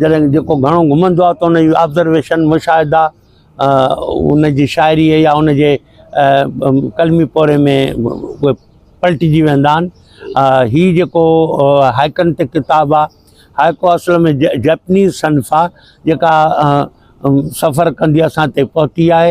جڏهن جيڪو گهڻو گهمندو آهي ته ان جي آبزرويشن، مشاهدا، ان جي شاعريء يا ان جي قلمي پورهئي ۾ اهي پلٽجي ويندا آهن. هي جيڪو هائيڪن تي ڪتاب آهي، هائيڪو اصل ۾ جئپنيز صنف آهي، جيڪا سفر ڪندي اسان تائين پهتي آهي.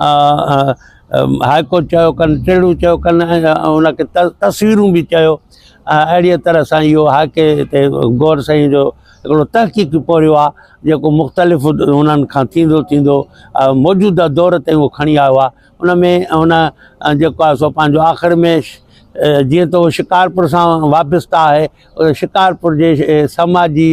هاء ڪورٽ چيو ڪن ٽيڙو چيو ڪن ان کي تصويرون به چيو اهڙيء طرح سان اهو هاء ڪي تي غور سائين جو هڪڙو تحقيقي پورهيو آهي جيڪو مختلف انهن کان ٿيندو ٿيندو موجوده دور تائين اهو کڻي آيو آهي ان ۾ ان جيڪو آهي سو پنهنجو آخر ۾ جيئن ته شڪارپور سان وابسته آهي شڪارپور جي سماجي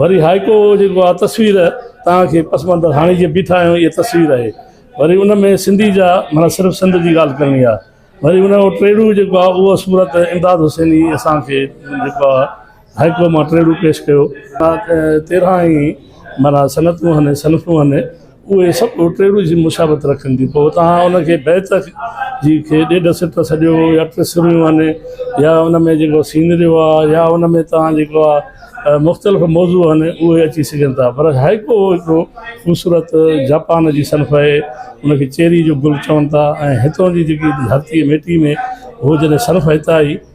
وري هائيڪو جيڪو آهي تصوير توهان کي پس منظر هاڻي جيئن بيٺا آهيون اها تصوير آهي وري ان ۾ سنڌي جا معنيٰ صرف سنڌ جي ڳالهه ڪرڻي آهي وري ان جو ٽيڙو جيڪو آهي اها صورت امداد حسيني اسان کي جيڪو آهي هائيڪو مان ٽيڙو پيش ڪيو تيرهن ئي معنيٰ صنعتون هن صنفون هن اهي سڀ ٽيڙو جي مشابهت رکن ٿيون پوء توهان ان کي بيت جي کي ڏيڍ سٽ سڏيو يا ٽي سريون آهن يا ان ۾ جيڪو سينريو آهي يا ان ۾ توهان جيڪو آهي مختلف موضوع آهن اهي اچي سگهن ٿا پر هائيڪو هڪڙو خوبصورت جاپان جي صنف آهي ان کي چيري جو گل چون ٿا ۽ هتان جي جيڪي ڌرتي مٽي ۾ هو جڏهن صنف هتان جي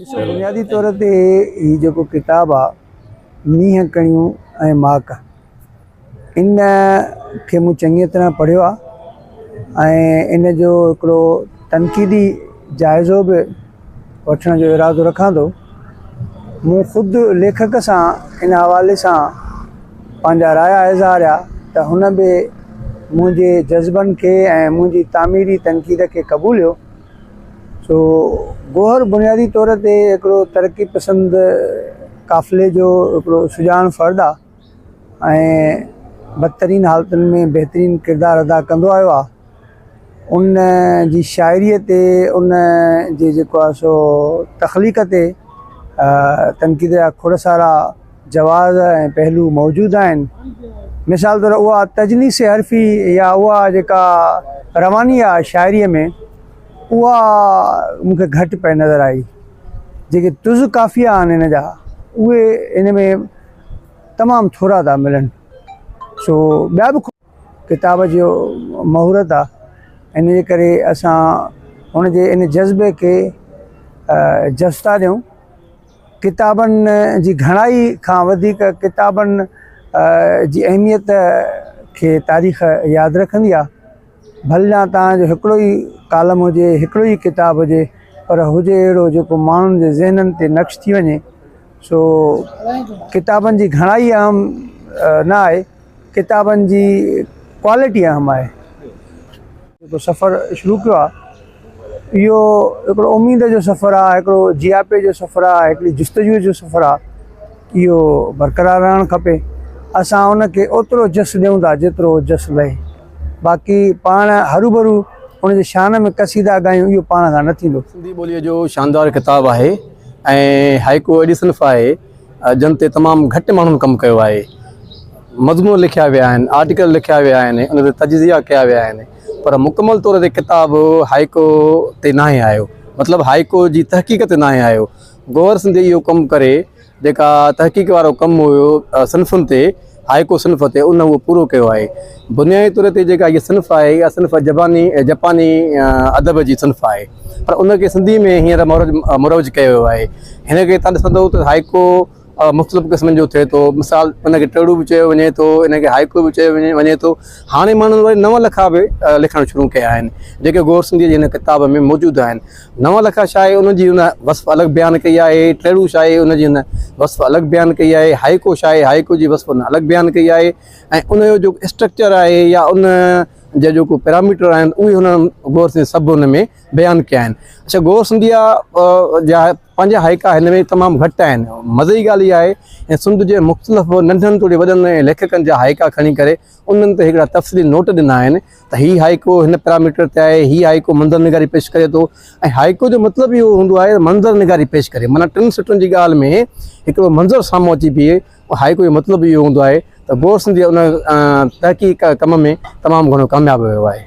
ڏسو بنيادي طور تي هي جيڪو ڪتاب آ مينهن ڪڻيون ۽ ماڪ ان کي مون چڱيء طرح پڙهيو آ ۽ ان جو هڪڙو تنقيدي جائزو به وٺڻ جو ارادو رکان ٿو مون خود ليکڪ سان ان حوالي سان پنهنجا رايا اظهاريا ته هن به منهنجي جذبن کي ۽ منهنجي تعميري تنقيد کي قبوليو سو گوهر بنيادي طور تي هڪڙو ترقي پسند قافلي جو هڪڙو سڄاڻ فرد آ ۽ بدترين حالتن ۾ بهترين ڪردار ادا ڪندو آيو آ ان جي شاعري تي ان جي جيڪو آ سو تخليق تي تنقيد جا کوڙ سارا جواز ۽ پهلو موجود آهن. مثال طور اها تجنيس حرفي يا اها جيڪا رواني آ شاعريء ۾ اها مون کي گهٽ پئي نظر آئي. جيڪي طز قافيه آهن هن جا اهي هن ۾ تمام ٿورا ٿا ملن. سو ٻيا به ڪتاب جو مهورت آ ان جي ڪري اسان هن جي ان جذبي کي جستا ڏيون. ڪتابن جي گهڻائي کان وڌيڪ ڪتابن جي اهميت کي تاريخ ياد رکندي آ ڀليان توهان جو هڪڙو ئي ڪالم هجي هڪڙو ئي ڪتاب هجي پر هجي اهڙو جيڪو ماڻهن جي ذهنن تي نقش ٿي وڃي سو ڪتابن جي گهڻائي اهم نه آهي ڪتابن جي ڪوالٽي اهم آهي سفر شروع ڪيو آ اهو هڪڙو اميد جو سفر آهي، هڪڙو جياپي جو سفر آهي، هڪڙي جستجوء جو سفر آهي، اهو برقرار رهڻ کپي، اسان ان کي اوترو جس ڏيون ٿا جيترو جس لهي، باقي پاڻ هروڀرو ان جي شان ۾ قصيدا ڳايون اهو پاڻ کان نه ٿيندو. سنڌي ٻوليء جو شاندار ڪتاب آهي ۽ هائيڪو اهڙي صنف آهي جنھن تي تمام گهٽ ماڻهن ڪم ڪيو آهي. مضمون لکيا ويا آهن، آرٽيڪل لکيا ويا آهن، ان تي تجزيا ڪيا ويا آهن. پر مڪمل طور تي ڪتاب هائيڪو تي ناهي آيو. مطلب هائيڪو جي تحقيق تي ناهي آيو. گوهر سنڌيء اهو ڪم ڪري جيڪا تحقيق وارو ڪم هيو صنفن تي، هائيڪو صنف تي، ان اهو پورو ڪيو آهي. بنيائي طور تي جيڪا هيء صنف آهي، اها صنف جباني، جپاني، ادب جي صنف آهي. پر ان کي سنڌيء ۾ هينئر مروج مروج ڪيو ويو آهي. هن کي تڏهن سڏو ته هائيڪو. مختلف قسمن جو ٿئي ٿو مثال ان کي ٽڙو به چيو وڃي ٿو ان کي هائيڪو به چيو وڃي ٿو هاڻي ماڻهن وري نون لکا به لکڻ شروع ڪيا آهن جيڪي غور سنڌيء جي هن ڪتاب ۾ موجود آهن نون لکا شاعري ان جي هن وصف الڳ بيان ڪئي آهي ٽڙو شاعري ان جي هن وصف الڳ بيان ڪئي آهي هائيڪو شاعري هائيڪو جي وصف هن الڳ بيان ڪئي آهي ۽ ان جو جو اسٽرڪچر آهي يا ان جا جيڪو پيرامیٽر آهن اهي هن غور سنڌيء سڀ ان ۾ بيان ڪيا آهن اڇا غور سنڌيء جا پنهنجا هائيڪا هن ۾ تمام گهٽ آهن. مزي جي ڳالهه اها آهي ته سنڌ جي مختلف ننڍن توڙي وڏن ليکڪن جا هائيڪا کڻي ڪري انهن تي هڪڙا تفصيلي نوٽ ڏنا آهن ته هي هائيڪو هن پيراميٽر تي آهي، هي هائيڪو منظر نگاري پيش ڪري ٿو ۽ هائيڪو جو مطلب ئي اهو هوندو آهي ته منظر نگاري پيش ڪري معنيٰ ٽن سٽن جي ڳالهه ۾ هڪڙو منظر سامهون اچي بيهي هائيڪو جو مطلب ئي اهو هوندو آهي ته گور سنڌي ان تحقيق ڪم ۾ تمام گهڻو ڪامياب ويو آهي.